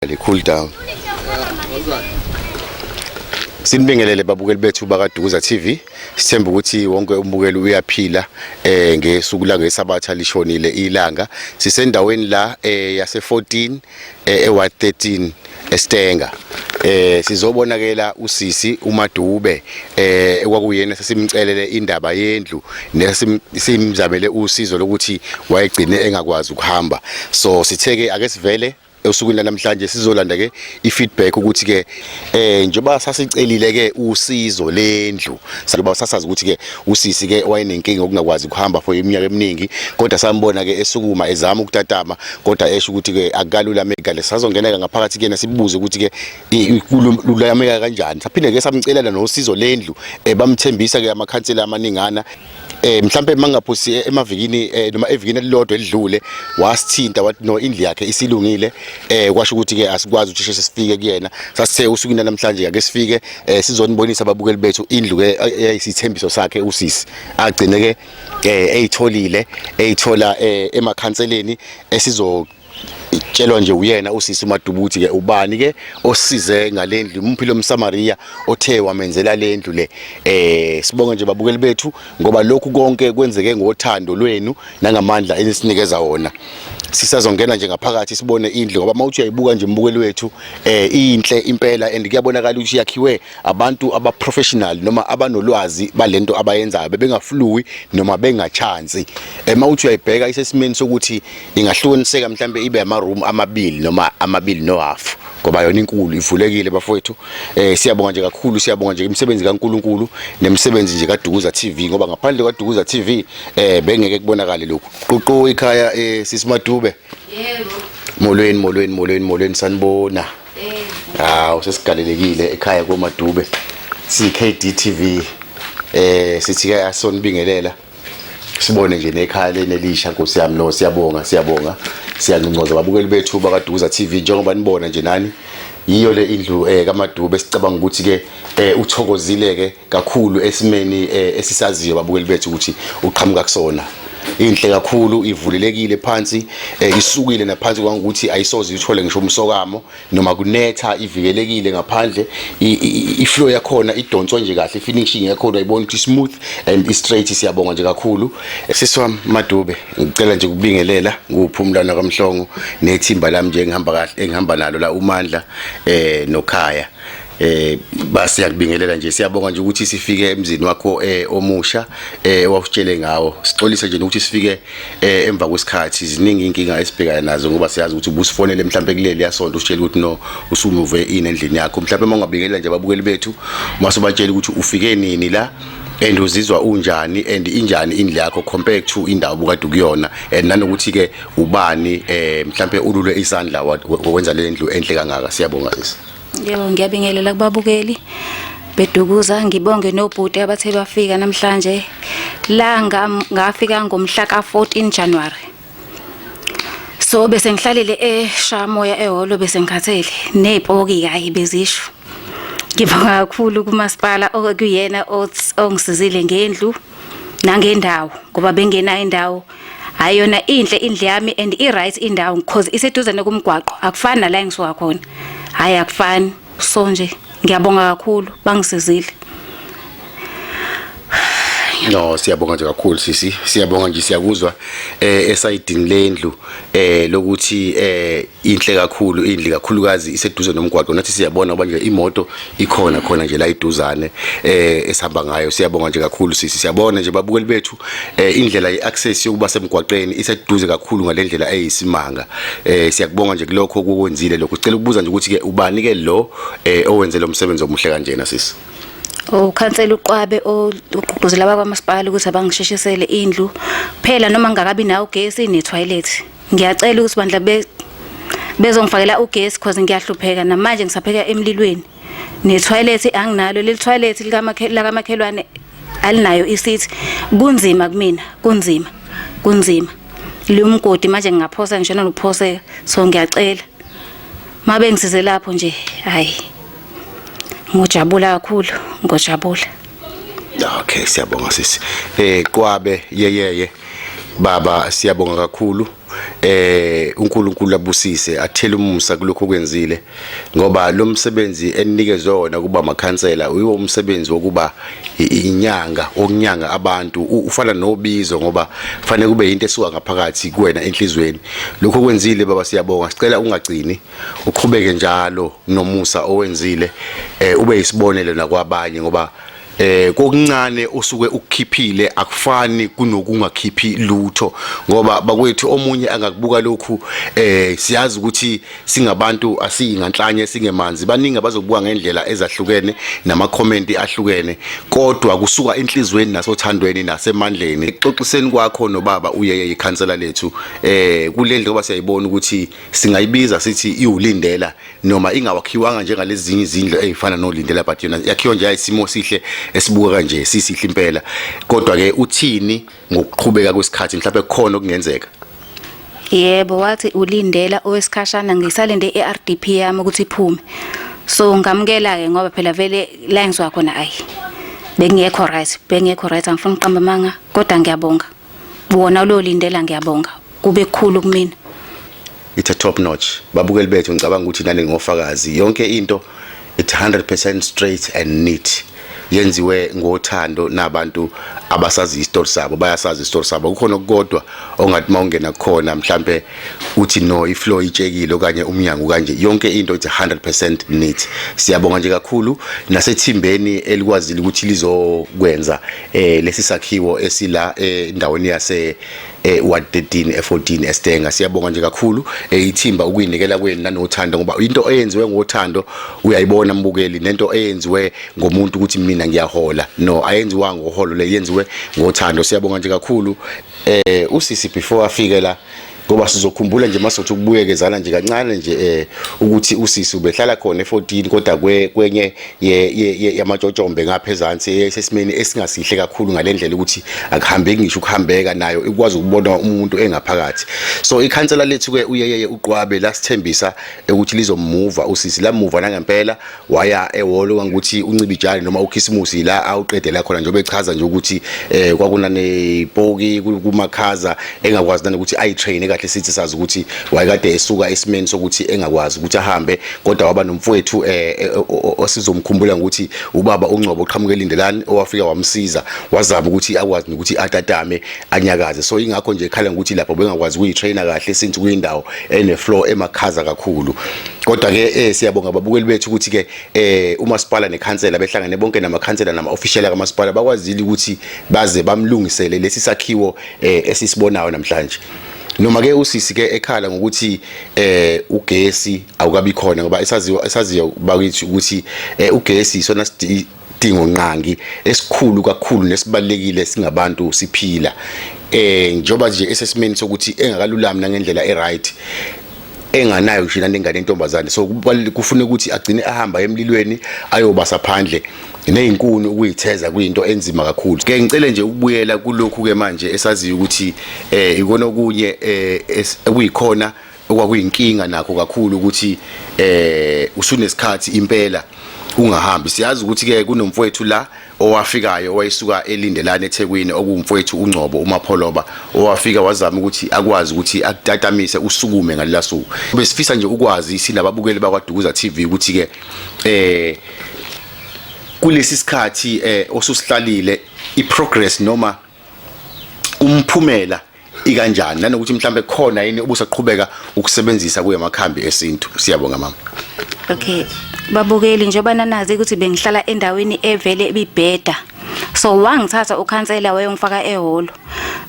le cool down Sinibingelele babukeli bethu bakaDukuza TV. Sithemba ukuthi wonke umbukeli uyaphila eh ngesuku la ngesabatha lishonile ilanga. Sisendaweni la eh yase 14 eh e Ward 13 eStenga. Eh sizobonakela usisi uMadube eh ekwakuyena sesimcelele indaba yendlu nesimzamele usizo lokuthi wayegcine engakwazi ukuhamba. So sitheke ake sivele Esukwini lanamhlanje sizolanda ke ifeedback ukuthi ke eh njengoba sasicelile ke usizo lendlu ngoba sasazi ukuthi ke usisi ke wayenenkinga okungakwazi ukuhamba for iminyaka eminingi kodwa sambona ke esukuma ezama ukutatama kodwa esho ukuthi ke akalula mega lesazongeneka ngaphakathi kuyena sibuze ukuthi ke lulameka kanjani saphinde ke samcelela nosizo lendlu eh, bamthembisa ke amakhansela amaningana eh mhlambe mangaphusi eh, emavikini eh, noma evikini elilodwa elidlule wasithinta wathi no indli yakhe isilungile eh kwasho ukuthi ke asikwazi ukuthi sheshe sifike kuyena sasithe usukwini namhlanje ake sifike eh, sizonibonisa ababukeli bethu indlu ke eyisithembiso sakhe usisi agcine ke eyitholile eyithola emakhanseleni esizo itshelwa nje uyena usisi umadubu ukuthi ke ubani ke osize ngalendlu umphi lo msamariya othe wamenzela lendlu le eh sibonga nje babukeli bethu ngoba lokhu konke kwenzeke ngothando lwenu nangamandla enisinikeza wona sisazongena nje ngaphakathi sibone indlu ngoba mawuthi uyayibuka nje umbukeli wethu eh inhle impela and kuyabonakala ukuthi yakhiwe abantu aba professional noma abanolwazi balento abayenzayo bebengafluwi noma bengachansi ema uthi uyayibheka isesimeni sokuthi ingahlukaniseka mhlambe ibe ama room amabili noma amabili no half ngoba yona inkulu ivulekile bafowethu eh siyabonga nje kakhulu siyabonga nje imisebenzi kaNkuluNkulu nemisebenzi nje kaDukuza TV ngoba ngaphandle kwaDukuza TV eh bengeke kubonakale lokhu ququ ikhaya eh sisimadube yebo molweni molweni molweni molweni sanibona hawu sesigalelekile ekhaya komadube siyi-kdtv eh sithi ke asonibingelela sibone nje nekhaya leni elisha nkosi yami lo siyabonga siyabonga siyanconcoza babukeli bethu bakaduza tv njengoba nibona nje nani yiyo le indlu eh kamadube sicabanga ukuthi ke eh uthokozile ke kakhulu esimeni eh, esisaziyo babukeli bethu ukuthi uqhamuka kusona inhle kakhulu ivulelekile phansi eh, isukile naphansi kwangukuthi ayisoze ithole ngisho umsokamo noma kunetha ivikelekile ngaphandle iflow yakhona idonswe nje kahle finishing yakhona ayibona ukuthi smooth and i straight siyabonga nje kakhulu sisi wami Madube ngicela nje ukubingelela nguphumlana kaMhlongo nethimba lami nje engihamba kahle engihamba nalo la uMandla eh noKhaya eh basiyakubingelela nje siyabonga nje ukuthi sifike emzini wakho eh omusha eh owakutshele ngawo sixolise nje ukuthi sifike eh emva kwesikhathi ziningi inkinga esibhekana nazo ngoba siyazi ukuthi ubusifonele mhlawumbe kuleli yasonto usitshela ukuthi no usumuve ini endlini yakho mhlawumbe uma ungabingelela nje ababukeli bethu masubatshela ukuthi ufike nini la and uzizwa unjani and injani indle yakho compared to indawo bukade ukuyona and nanokuthi ke ubani eh mhlambe ulule isandla wenza le ndlu enhle kangaka siyabonga sisi Yebo ngiyabingelela kubabukeli bedukuza ngibonge nobhuti abathe bafika namhlanje la ngafika ngomhla ka-14 January so bese ngihlalele eshamoya ehholo bese ngikhathele nezipoki kayi bezisho ngibonga kakhulu kumasipala okuyena ongisizile ngendlu nangendawo ngoba bengenayo indawo hayi yona inhle indle yami and i-right indawo because iseduze nokumgwaqo akufani nala engisuka khona hayi akufani so nje ngiyabonga kakhulu bangisizile No siyabonga nje kakhulu sisi siyabonga nje siyakuzwa eh esayidini lendlu eh lokuthi eh inhle kakhulu indli kakhulukazi iseduze nomgwaqo nathi siyabona ngoba nje imoto ikhona khona nje la iduzane eh esihamba ngayo siyabonga nje kakhulu sisi siyabona nje babukeli bethu eh indlela yeaccess yokuba semgwaqeni iseduze kakhulu ngalendlela eyisimanga eh siyakubonga nje kulokho okwenzile lokho sicela ukubuza nje ukuthi ke ubani ke lo eh owenze lo msebenzi omuhle kanjena sisi ukhansela uqwabe ogqugquzela abakwamasipala ukuthi abangishishisele indlu phela noma ngingakabi nawo ugesi ne-toilet ngiyacela ukuthi bandla be bezongifakela ugesi because ngiyahlupheka namanje ngisapheka emlilweni netoilet anginalo leli toilet likamakhelwane alinayo isithi kunzima kumina kunzima kunzima liwumgodi manje ngingaphosa ngisho nokuphoseka so ngiyacela mabe ngisize lapho nje hayi ngojabula kakhulu ngojabula Okay siyabonga sisi. Eh Qwabe yeyeye baba siyabonga kakhulu eh uNkulunkulu abusise athele umusa kulokho kwenzile ngoba lo msebenzi enikezwe wona kuba makhansela uyiwo umsebenzi wokuba inyanga okunyanga abantu ufana nobizo ngoba kufanele kube into esuka ngaphakathi kuwena enhlizweni lokho kwenzile baba siyabonga sicela ungagcini uqhubeke njalo nomusa owenzile eh ube isibonelo nakwabanye ngoba eh kokuncane usuke ukukhiphile akufani kunokungakhiphi lutho ngoba bakwethu omunye angakubuka lokhu eh siyazi ukuthi singabantu asiyinganhlanye singemanzi baningi abazokubuka ngendlela ezahlukene nama comment ahlukene kodwa kusuka enhlizweni nasothandweni nasemandleni xoxiseni kwakho nobaba uyeye ikhansela lethu eh kulendle ngoba siyayibona ukuthi singayibiza sithi iwulindela noma ingawakhiwanga njengalezinye izindlu ezifana nolindela but yona yakhiwa nje ayisimo sihle esibukeka nje sisihle impela kodwa ke uthini ngokuqhubeka kwesikhathi mhlawumbe kukhona okungenzeka yebo wathi ulindela owesikhashana ngisalinde iRDP yami ukuthi iphume so ngamukela ke ngoba phela vele la ngizwa khona ayi bengekho right bengekho right angifuni uqamba amanga kodwa ngiyabonga wona ulolindela ngiyabonga kube khulu kumina it's a top notch babukeli bethu ngicabanga ukuthi nani ngofakazi yonke into it's 100% straight and neat yenziwe ngothando nabantu abasazi isitori sabo bayasazi isitori sabo kukhona okukodwa ongathi mawungena khona mhlambe uthi no iflow itshekile okanye umnyango kanje yonke into ithi 100% neat siyabonga nje kakhulu nasethimbeni elikwazile ukuthi lizokwenza eh lesi sakhiwo esila endaweni yase eh, ward 13 e14 eStenga siyabonga nje kakhulu eh, ithimba ukuyinikela kwenu nanothando ngoba into eyenziwe ngothando uyayibona mbukeli nento eyenziwe ngomuntu ukuthi mina ngiyahola no ayenziwa ngoholo le yenziwe ngothando siyabonga nje kakhulu eh usisi before afike la ngoba sizokhumbula nje masothi ukubuyekezana nje kancane nje eh ukuthi usisi ubehlala khona e14 kodwa kwenye yamatshotshombe ngapha ezansi esesimeni esingasihle kakhulu ngale ndlela ukuthi akuhambeki ngisho ukuhambeka nayo ikwazi ukubona umuntu engaphakathi so ikhansela lethu-ke uyeyeye uqwabe lasithembisa ukuthi lizomuva usisi lamuva nangempela waya ehholo kangukuthi uncibijane noma ukhisimusi la awuqedela khona njengoba echaza nje ukuthi um kwakunanepoki kumakhaza engakwazi nanokuthi ayi-traine kahle sithi sazi ukuthi wayekade esuka esimeni sokuthi engakwazi ukuthi ahambe kodwa waba nomfowethu eh, eh, osizomkhumbula ukuthi ubaba uNgcobo uqhamuke elindelani owafika wamsiza wazama ukuthi akwazi ukuthi atatame anyakaze so ingakho nje ekhala ngokuthi lapho bengakwazi ukuyitrainer kahle since kuyindawo ene floor emakhaza kakhulu kodwa ke eh siyabonga babukeli bethu ukuthi ke eh umasipala nekhansela behlangene bonke namakhansela nama official kamasipala bakwazile ukuthi baze bamlungisele lesi sakhiwo eh esisibonayo namhlanje noma ke usisi ke ekhala ngokuthi eh ugesi awukabi khona ngoba esaziwa esaziyo bakithi ukuthi eh, ugesi isona isidingo nqangi esikhulu kakhulu nesibalekile singabantu siphila eh njoba nje esesimeni sokuthi engakalulami nangendlela eright enganayo ngisho nani ingane intombazane so kufuna ukuthi agcine ahamba emlilweni ayobasa phandle nezinkuni ukuyitheza kuyinto enzima kakhulu ke ngicele nje ukubuyela kulokhu ke manje esaziyo ukuthi eh ikona okunye eh kuyikhona okwakuyinkinga nakho kakhulu ukuthi eh usunesikhathi impela ungahambi siyazi ukuthi ke kunomfowethu la owafikayo owayesuka eLindelani eThekwini okuwumfowethu uNgcobo uMapholoba owafika wazama ukuthi akwazi ukuthi akutatamise usukume ngalelo suku besifisa nje ukwazi sinababukeli bakwaDukuza TV ukuthi ke eh kulesi sikhathi eh osusihlalile iprogress noma umphumela ikanjani nanokuthi mhlambe khona yini ubusaqhubeka ukusebenzisa kuye amakhambi esintu siyabonga mama okay babukeli njengoba nanazi ukuthi bengihlala endaweni evele ibibheda so wangithatha ukhansela wayongifaka ehholo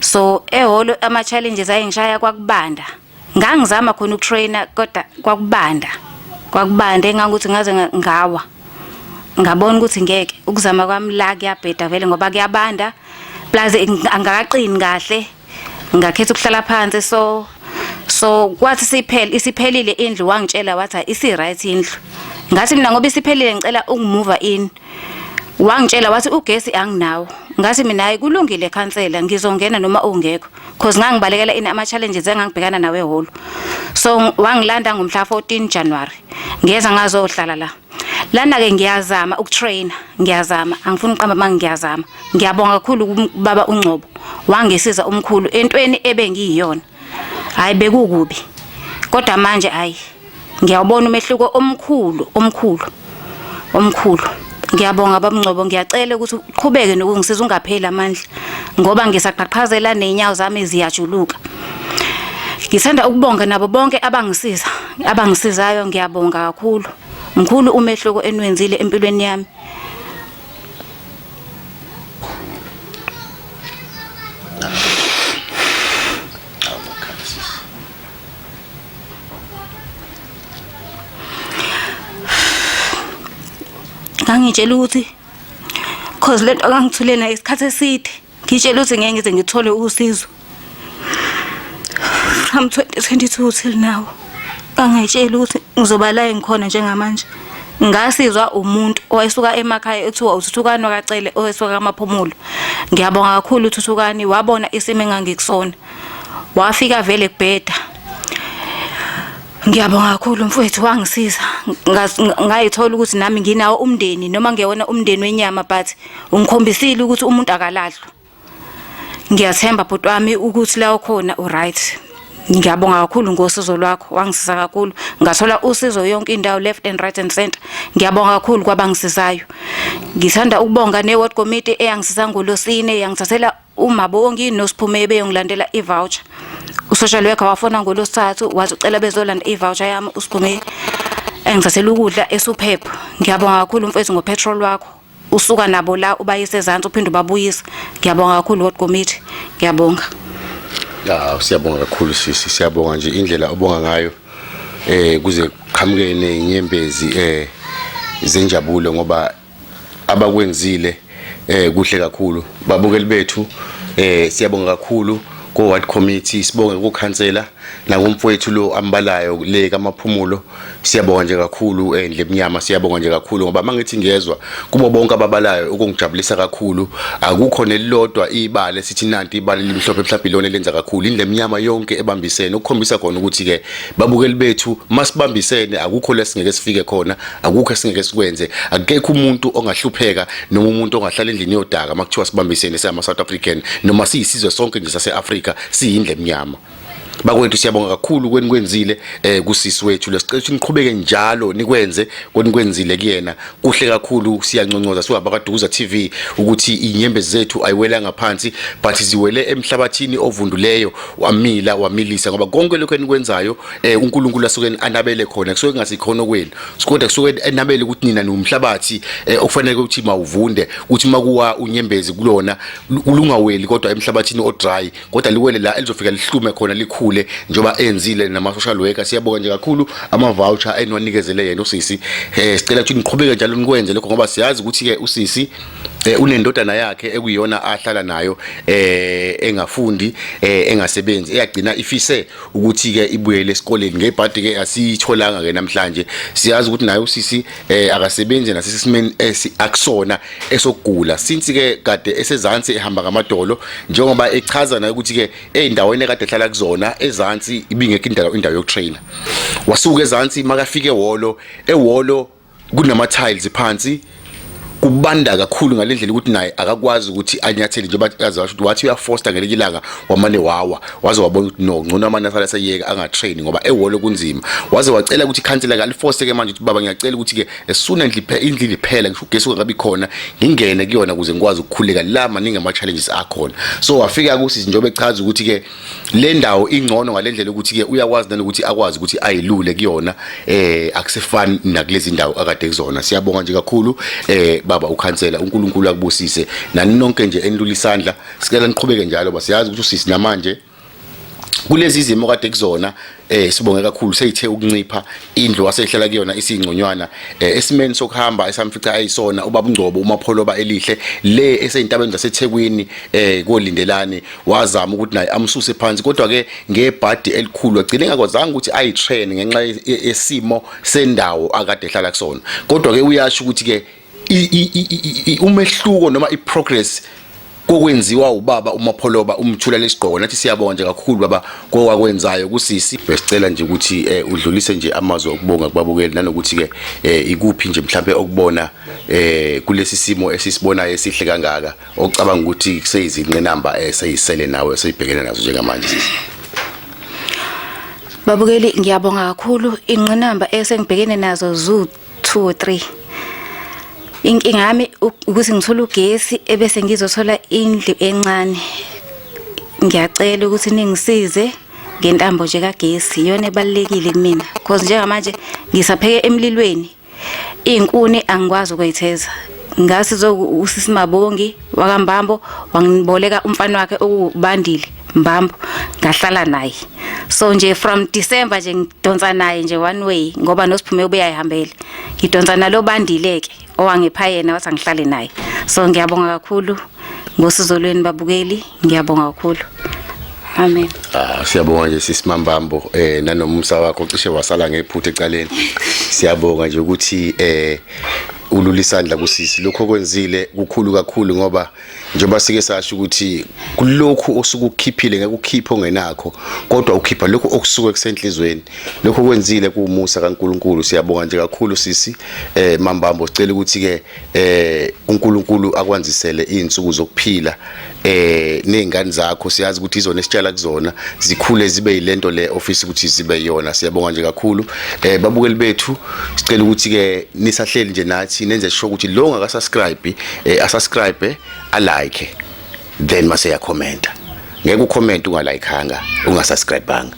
so ehholo ama challenges ayengishaya kwakubanda ngangizama khona ukutraina kodwa kwakubanda kwakubanda engangokuthi ngaze ngawa ngabona ukuthi ngeke ukuzama kwami la kuyabheda vele ngoba kuyabanda plus angakaqini kahle ngakhetha ukuhlala phansi so so kwathi siphele isiphelile indlu wangitshela wathi isi right indlu ngathi mina ngoba isiphelile ngicela ungimuva in wangitshela wathi ugesi anginawo ngathi mina hayi kulungile khansela ngizongena noma ungekho cause ngangibalekela ini ama challenges engangibhekana nawe ehholo so wangilanda ngomhla 14 January ngeza ngazohlala la lana ke ngiyazama ukutraina ngiyazama angifuni uqamba manje ngiyazama ngiyabonga kakhulu kubaba uNgcobo wangisiza umkhulu entweni ebengiyiyona hayi bekukubi kodwa manje hayi ngiyawubona umehluko omkhulu omkhulu omkhulu ngiyabonga babungcobo ngiyacela ukuthi uqhubeke nokungisiza ungapheli amandla ngoba ngisaqhaqhazela neenyawo zami ziyajuluka ngithanda ukubonga nabo bonke abangisiza abangisizayo ngiyabonga kakhulu mkhulu umehluko enwenzile empilweni yami ngangitshela ukuthi cause lento kangithule nayo isikhathi eside Ngitshela ukuthi ngeke ngize ngithole usizo. From 2022 till now. Angayitshela ukuthi ngizoba la engikhona njengamanje. ngasizwa umuntu owayesuka emakhaya ekuthiwa uthuthukani wakacele owesuka kamaphumulo ngiyabonga kakhulu uthuthukani wabona isimo engangikusona wafika vele kubheda Ngiyabonga kakhulu mfowethu wangisiza ngayithola ukuthi nami nginawo umndeni noma ngiyona umndeni wenyama but ungikhombisile ukuthi umuntu akalahlwa ngiyathemba bhuti wami ukuthi la ukhona uright ngiyabonga kakhulu ngosizo lwakho wangisiza kakhulu ngathola usizo yonke indawo left and right and center ngiyabonga kakhulu kwabangisizayo ngithanda ukubonga ne ward committee eyangisiza ngolosine yangithathela uma bongi nosiphume beyongilandela i-voucher usocial worker wafona ngolosithathu waze ucela bezolanda i-voucher yami usiphume engizasela ukudla esuphepho ngiyabonga kakhulu mfethu ngopetrol wakho usuka nabo la ubayise ezantsi uphinde ubabuyisa ngiyabonga kakhulu ward committee ngiyabonga ya siyabonga kakhulu sisi siyabonga nje indlela obonga ngayo eh kuze qhamuke nezinyembezi eh zenjabulo ngoba abakwenzile eh kuhle kakhulu babukeli bethu eh siyabonga kakhulu ko ward committee sibonge ku councillor nakumfowethu lo ambalayo le kamaphumulo siyabonga nje kakhulu endle eh, emnyama siyabonga nje kakhulu ngoba mangithi ngiyezwa kubo bonke ababalayo ukungijabulisa kakhulu akukho nelilodwa ibale sithi nanti ibale limhlophe mhlawumbe lona lenza kakhulu indle emnyama yonke ebambisene ukukhombisa khona ukuthi ke babukeli bethu masibambisene akukho lesingeke sifike khona akukho esingeke sikwenze akekho umuntu ongahlupheka noma umuntu ongahlala endlini yodaka makuthiwa sibambisene sama South African noma siyisizwe sonke nje sase Africa siyindle emnyama bakwethu siyabonga kakhulu kweni kwenzile eh kusisi wethu lesicela niqhubeke njalo nikwenze kweni kwenzile kuyena kuhle kakhulu siyanconcoza siwabakaduza TV ukuthi inyembe zethu ayiwela ngaphansi but ziwele emhlabathini ovunduleyo wamila wamilisa ngoba konke lokho enikwenzayo eh uNkulunkulu asuke anabele khona kusuke kungasikhono kwenu sikonde kusuke enabele ukuthi nina niwumhlabathi eh, okufanele ukuthi mawuvunde uthi makuwa unyembezi kulona kulungaweli kodwa emhlabathini odry kodwa liwele la elizofika lihlume khona likhule njoba enzile nama social worker siyabonga nje kakhulu ama voucher enwanikezele yena usisi eh sicela ukuthi niqhubeke njalo nikwenze lokho ngoba siyazi ukuthi ke usisi eh unendodana yakhe ekuyona ahlala nayo eh engafundi eh engasebenzi eyagcina ifise ukuthi ke ibuyele esikoleni ngebhadi ke asiyitholanga ke namhlanje siyazi ukuthi naye usisi eh akasebenzi nasesimeni esi akusona esokugula since ke kade esezansi ehamba ngamadolo njengoba echaza naye ukuthi ke ezindaweni ekade ehlala kuzona ezansi ibingekho indawo indawo yokutrainer wasuka ezansi makafike ehholo ehholo kunama tiles phansi kubanda kakhulu ngalendlela ukuthi naye akakwazi ukuthi anyathele njengoba azasho ukuthi wathi uyafosta ngelinye ilanga wamane wawa waze wabona ukuthi no ngcono amane asala seyeka angatrain ngoba eholo kunzima waze wacela ukuthi ikhansela kalifoste ke manje ukuthi baba ngiyacela ukuthi ke esuna ndliphe indlini phela ngisho ugesi ungabi khona ngingene kuyona ukuze ngikwazi ukukhuleka la maningi ama challenges akhona so wafika kusithi njengoba echaza ukuthi ke le ndawo ingcono ngalendlela ukuthi ke uyakwazi nanokuthi akwazi ukuthi ayilule kuyona eh akusefani nakulezi ndawo akade kuzona siyabonga nje kakhulu eh baba ukhansela uNkulunkulu akubusise nani nonke nje enilula isandla sicela niqhubeke njalo basiyazi ukuthi usisi namanje kulezi zimo kade kuzona eh sibonge kakhulu seyithe ukuncipha indlu wasehlala kuyona isingconywana eh, esimeni sokuhamba esamfica ayisona ubabungcobo umapholoba elihle le eseyintabeni zaseThekwini eh kolindelani wazama ukuthi naye amsuse phansi kodwa ke ngebhadi elikhulu agcine ngakwazanga ukuthi ayi train ngenxa yesimo sendawo akade ehlala kusona kodwa ke uyasho ukuthi ke umehluko noma iprogress kokwenziwa ubaba umapholoba umthula lesigqoko nathi siyabonga nje kakhulu baba kokwakwenzayo kusisi besicela nje ukuthi eh, udlulise nje amazwi okubonga kubabukeli nanokuthi ke eh, ikuphi nje mhlawumbe okubona eh, kulesi simo esisibonayo esihle kangaka ocabanga ukuthi kuseyizinqinamba eseyisele nawe eseyibhekene nazo njengamanje sisi Babukeli ngiyabonga kakhulu inqinamba esengibhekene nazo 2 3 Inkinga yami ukuthi ngithola ugesi ebese ngizothola indlu encane. Ngiyacela ukuthi ningisize ngentambo nje kagesi iyona ebalekile kumina because njengamanje ngisapheke emlilweni izinkuni angikwazi ukuyitheza ngasi zokusisimabongi wakambambo wangiboleka umfana wakhe okubandile mbambo ngahlala naye so nje from December nje ngidonsa naye nje one way ngoba nosiphume ubeyayihambele ngidonsa nalo bandile ke owangipha yena wathi angihlale naye so ngiyabonga kakhulu ngosizo lweni babukeli ngiyabonga kakhulu Amen. Ah siyabonga nje sisi Mambambo eh nanomumsa wakho cishe wasala ngephutha ecaleni. Siyabonga nje ukuthi eh ulula isandla kusisi lokho kwenzile kukhulu kakhulu ngoba njengoba sike sasho ukuthi kulokhu osukukhiphile ngeke ukhiphe ongenakho kodwa ukhipha lokho okusuke kusenhlizweni lokho kwenzile kuwumusa kaNkuluNkulu siyabonga nje kakhulu sisi eh mambambo sicela ukuthi ke eh uNkuluNkulu akwanzisele izinsuku zokuphila eh nezingane zakho siyazi ukuthi izona esitshala kuzona zikhule zibe yilento le office ukuthi zibe yona siyabonga nje kakhulu eh babukeli bethu sicela ukuthi ke nisahleli nje nathi nenze sho ukuthi lo ngaka subscribe eh asubscribe a like then mase ya commenta ngeke ucomment ungalikanga ungasubscribanga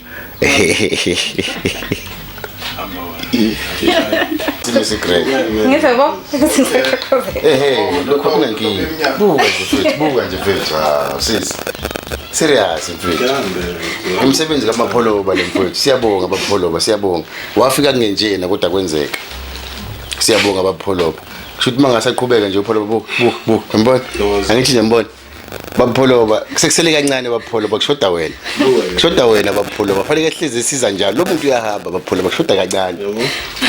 serious mfethu umsebenzi kamapholoba le mfethu siyabonga abapholoba siyabonga wafika kungenjena kodwa kwenzeka siyabonga abapholoba kusho ukuthi uma ngasaqhubeka nje upholoba bu bu bu yambona angithi nje mbona bapholoba kusekusele kancane bapholoba kushoda wena kushoda wena bapholoba fanele ehlezi esiza njalo lo muntu uyahamba bapholoba kushoda kancane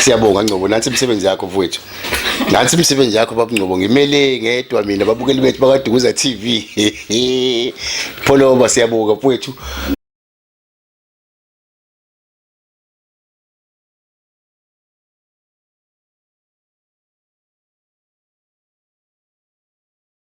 siyabonga ngcobo nansi imisebenzi yakho mfowethu nansi imisebenzi yakho babungcobo ngimele ngedwa mina babukeli bethu bakadukuza t v pholoba siyabonga mfowethu